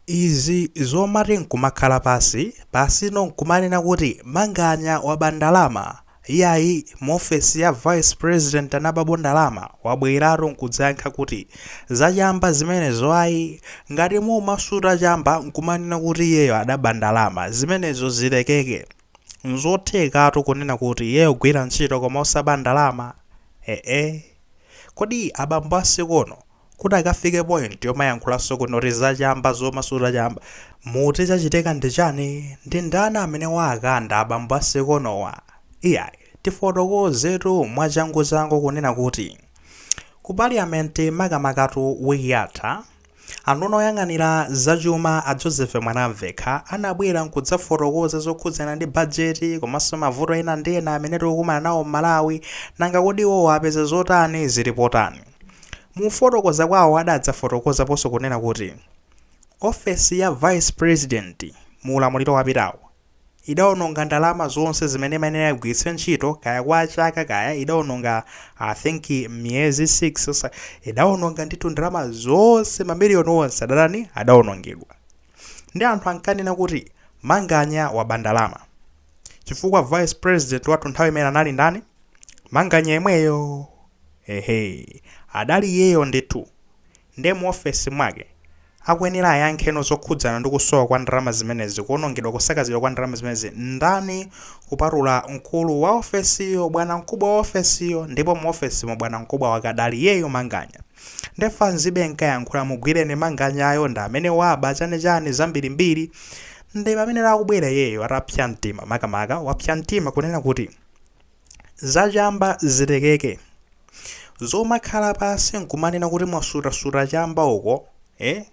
Izi zomati nkumakhala pansi pansino nkumanena kuti Manganya waba ndalama, iyayi mu ofesi ya Vice President anabapo ndalama? Wabweratu nkudzayankha kuti za chamba zimenezo ayi. Ngati mumasuta chamba nkumanena kuti iyeyo adaba ndalama, zimenezo zilekeke. Nzothekatu kunena kuti iyeyo kugwira ntchito koma osaba ndalama. Eeh kodi abambo a sikono kuti akafike point yomayankhulanso kunoti zachamba zomasuta chamba muti chachitika ndi chani ndi ndani amene wakanda abambo a sikonowa iyayi tifotokozetu mwachanguchangu kunena kuti ku parliament makamakatu wiki yatha anduna oyang'anira zachuma a joseph mwanamvekha anabwera nkudzafotokoza zokhudzana ndi bajeti komanso mavuto ena ndi ena amene tikukumana nawo m'malawi nanga kodi iwowo apeza zotani zilipo tani Mu kufotokoza kwawo adadzafotokozaponso kunena kuti ofesi ya Vice President mu ulamuliro wapitawo idaononga ndalama zonse zimene imayenera igwiritse ntchito kaya kwa chaka kaya idaononga I think miyezi 6 osa- idaononga ndithu ndalama zonse mamiliyoni onse adatani adaonongedwa nde anthu ankanena kuti manganya waba ndalama chifukwa vice president wathu nthawi imene anali ndani manganya yemweyo ehe adali iyeyo ndithu nde mu ofesi mwake akuyenera ayankheno zokhudzana ndi kusowa kwa ndalama zimenezi kuonongedwa kusakazidwa kwa ndalama zimenezi ndani kupatula mkulu wa ofesiyo bwana mkubwa wa ofesiyo ndipo mu ofesimo bwana mkubwa wake adali iyeyo manganya nde fans ibe nkayankhula mugwireni manganyayo ndi amene waba chanichani zambirimbiri Nde pamene akubwera iyeyo atapsya mtima makamaka wapsya mtima kunena kuti Za chamba zilekeke. Zomakhala pansi nkumanena kuti mwasuta suta chamba uko eh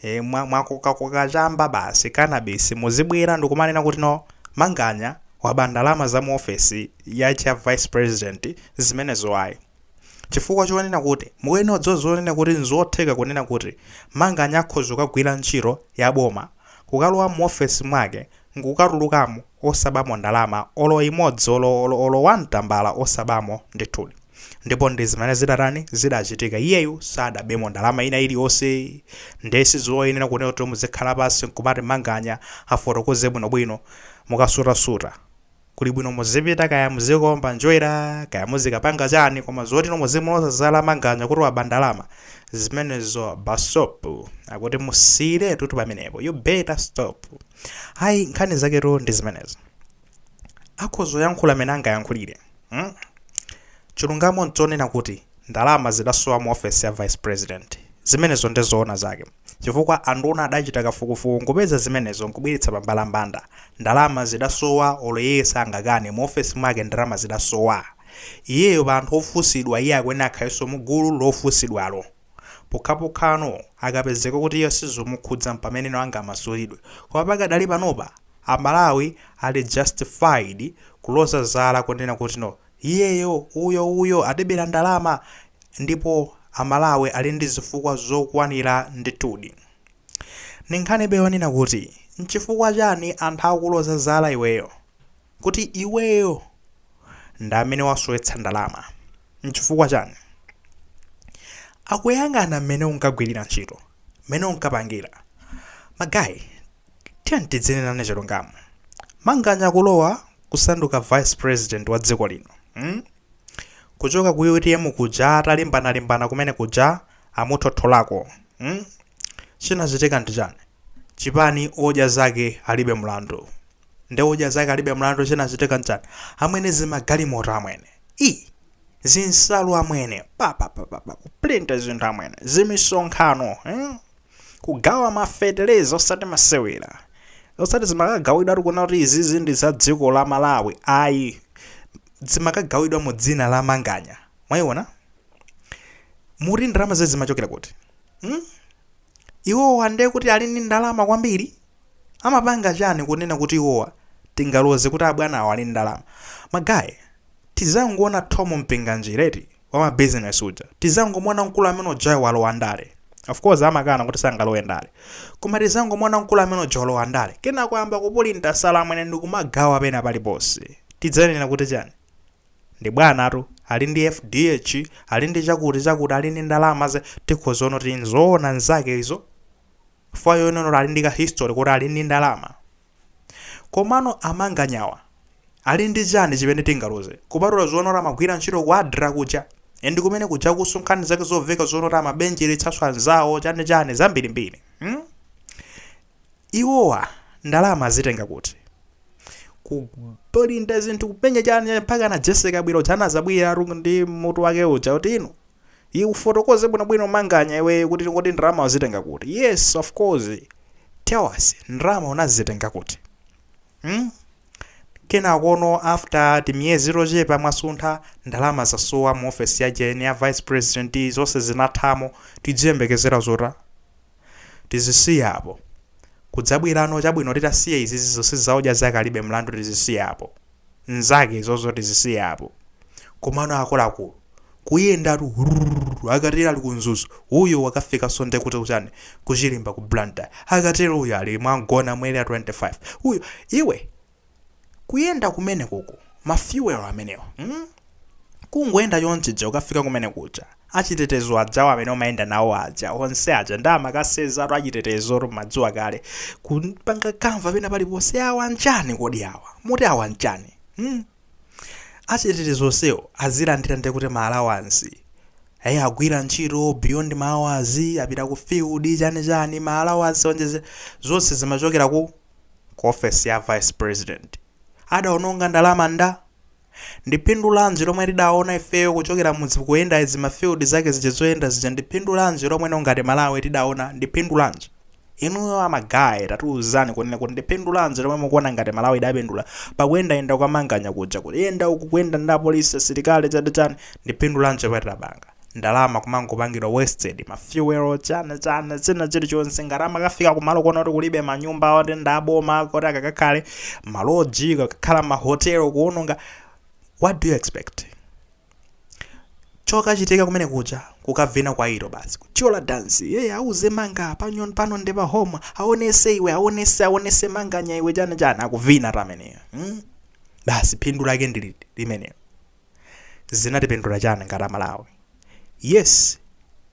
eh mwa mwakoka koka chamba basi cannabis muzibwera ndikumanena kuti no Manganya waba ndalama za mu ofesi ya cha vice president zimenezo ayi. chifukwa chonena kuti mukuyenera kudziwa zonena kuti nzotheka kunena kuti Manganya akhoza kukagwira ntchito ya boma, kukalowa muofesi mwake nkukatulukamo osabamo ndalama olo imodzi olo olo olo one tambala osabamo ndithudi. Ndipo ndi zimene zidatani, zidachitika. Iyeyu sadabemo ndalama ina iliyonse nde sizoyenera kunena kuti muzikhala pansi nkumati Manganya afotokoze bwinobwino. Mukasutasuta. Kuli bwino muzipita kaya muzikaomba njwera kaya muzikapanga chani koma zoti no muzimuloza zala manganya kuti waba ndalama zimenezo basop akuti musiyiretu tu pamenepo you better stop ayi nkhani zaketu ndi zimenezo akhoza kuyankhula amene angayankhulire hmm? chilungamo nchonena kuti ndalama zidasowa mu ofesi ya vice president zimenezo nde zoona zake chifukwa anduwona adachita kafukufuku nkupeza zimenezo nkubweretsa pa mbalambanda. Ndalama zidasowa olo iye sangakane, mu ofesi mwake ndalama zidasowa. Iyeyo pa anthu ofunsidwa iye akuyenera akhaleso mu gulu lofunsidwalo. Pokhapokhano akapezeka kuti iye sizomukhudza mpameneno angamasulidwe. Koma pakadali panopa a Malawi ali justified kuloza zala kunena kuti no, Iyeyo uyo uyo adabera ndalama ndipo a Malawi ali ndi zifukwa zokwanira ndithudi. Ndi nkhanibe yonena kuti nchifukwa chani anthu akuloza zala iweyo kuti iweyo ndi amene wasowetsa ndalama. Nchifukwa chani? Akuyang'ana mmene unkagwirira ntchito, mmene unkapangira. Magaye Tiyeni tidzinenana chilungamo. Manganya kulowa kusanduka vice president wa dziko lino mm kuchoka ku utm kuja atalimbana limbana kumene kuja amuthotholako mm chinachitika ndi chani? Chipani odya zake alibe mlandu ndi odya zake alibe mlandu chinachitika nchani? Amwene zimagalimoto amwene ii zinsalu amwene papapapapa kuprinta zinthu amwene zimisonkhano mm Kugawa ma feteleza osati masewera. Osati zimakagawidwa kunena kuti izizi ndi za dziko la Malawi ayi. Zimakagawidwa mu dzina la Manganya. Mwaiona? Mukuti ndalama zezi zimachokera kuti? Hmm? Iwowa ndiye kuti ali ndi ndalama kwambiri? Amapanga chani kunena kuti iwowa tingaloze kuti abwanawo ali ndi ndalama? Magaye, tizangoona Thom Mpinganjira eti? wa ma business uja tizangomuona mkulu amene ujayo walowa ndale of course amakana kuti sangalowe ndale koma tizangomuona mkulu amene uja walowa ndale kenako ayamba kupulinta nsalu amwene ndikumagawa pena paliponse tidzanena kuti chani ndi bwanatu ali ndi fdh ali ndi chakuti chakuti ali ndi ndalama zake tikhoza nena kuti nzoona zake izo fine nonena kuti ali ndi ka history kuti ali ndi ndalama Komano a Manganyawa Ali ndi chani chimene tingaloze? Kupatula zonena kuti amagwira ntchito ku adra kuja and kumene kujakuso nkhani zake zomveka zonena kuti amabenjeretsaso anzawo chani chani zambirimbiri hmm? Iwowa ndalama azitenga kuti? Kupulinta zinthu kupenya chani chani mpaka na Jesse Kabwila uja anazabweratu ndi mutu wake uja kuti inu Iwe ufotokoze bwinobwino manganya iweyo kuti kodi ndalama wazitenga kuti? Yes of course. Tell us ndalama unazitenga kuti? Hmm? Kenakono after timiyezi tochepa mwasuntha ndalama zasowa mu ofesi ya ujeni ya vice president zonse zinathamo tidziyembekezera zotani? tizisiye apo. Kudzabwirano, chabwino, titasiya izizi zonse zaodya zake alibe mlandu, tizisiye apo. Nzake izozo tizisiye apo. Komano akuluakulu, kuyendatu, rrrr, akatero ali ku Mzuzu, uyo wakafikaso nde kuti kuchani, ku Chirimba ku Blantyre, akatero uyo ali mwa Mgona mu Area 25, uyo, iwe, kuyenda kumene kuko ma fuel amenewa mm? kungoyenda chonchija ukafika kumene kuja achitetezo ajawo amene umayenda nawo aja onse aja ndi amakasezatu achitetezo tumadziwa kale kupanga kamva pena paliponse awa njani kodi awa muti awa njani mm? achitetezo onsewo azilandira ndi kuti ma allowance agwira ntchito beyond ma hours apita ku field chani chani ma allowance onjeze zonse zimachokera ku ku ofesi ya vice president adaononga ndalama nda? Ndi phindu lanji lomwe tidaona ifeyo kuchokera mudzi kuyenda izi ma field zake zija zoyenda zija ndi phindu lanji lomwe ngati Malawi tidaona ndi phindu lanji? Inuyo a ma guy tatiuzani kunena kuti ndi phindu lanji lomwe mukuona ngati Malawi idapindula pakuyendayenda kwa manganya kuja kuyenda uku kuyenda ndi apolisi asilikali chani chani ndi phindu lanji lomwe tidapanga? ndalama kumangopangidwa wasted ma fuel chana chana zina chilichonse ngati amakafika kumalo kunena kuti kulibe manyumba oti ndaboma kuti akakakhale maloji kakakhala mahotelo kuononga what do you expect chokachitika kumene kuja kukavina kwa ilo basi kuchola dansi yeye auze manganya pano ndi pa home aonese iwe aonese aonese manganya iwe chana chana akuvina tameneyo hmm? basi phindu lake ndi limenelo zinatipindula chani ngati amalawi? Yes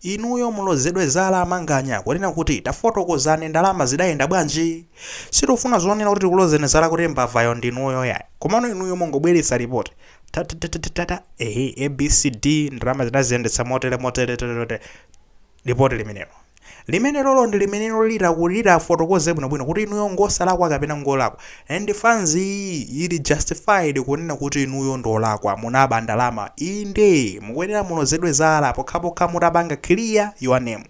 inuyo mulozedwe zala amanganya kunena kuti tafotokozani ndalama zidayenda bwanji? Sitikufuna zonena kuti tikulozeni zala kuti mbavayo ndinuyo yayi komano inuyo mungobweretsa report ta ta ta ta ta ta ehe a b c d ndalama munaziyendetsa motere motere tere tere. Lipoti limenelo. Limenelolo ndi limenelo lita litafotokoze bwinobwino kuti inuyo ngosalakwa kapena ngolakwa. And fans iyi ili justified kunena kuti inuyo ndi olakwa, munaba ndalama. Inde, mukuyenera mulozedwe zala pokhapokha mutapanga clear your name.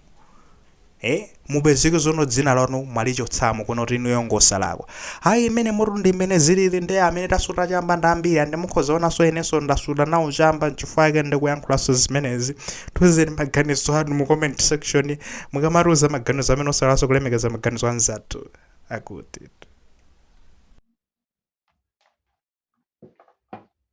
Eh, mupezeke zono dzina lanu mwalichotsamo kunena kuti inuyo ngosalakwa. Ayi imene motu ndi imene zilili nde amene tasuta chamba ndi ambiri and mukhoza kuonanso inenso ndasuta nawo chamba nchifukwa chake ndikuyankhulanso zimenezi. Tiuzeni maganizo anu mu comment section mukamatiuza maganizo amene osaiwalanso kulemekeza maganizo anzathu akuti.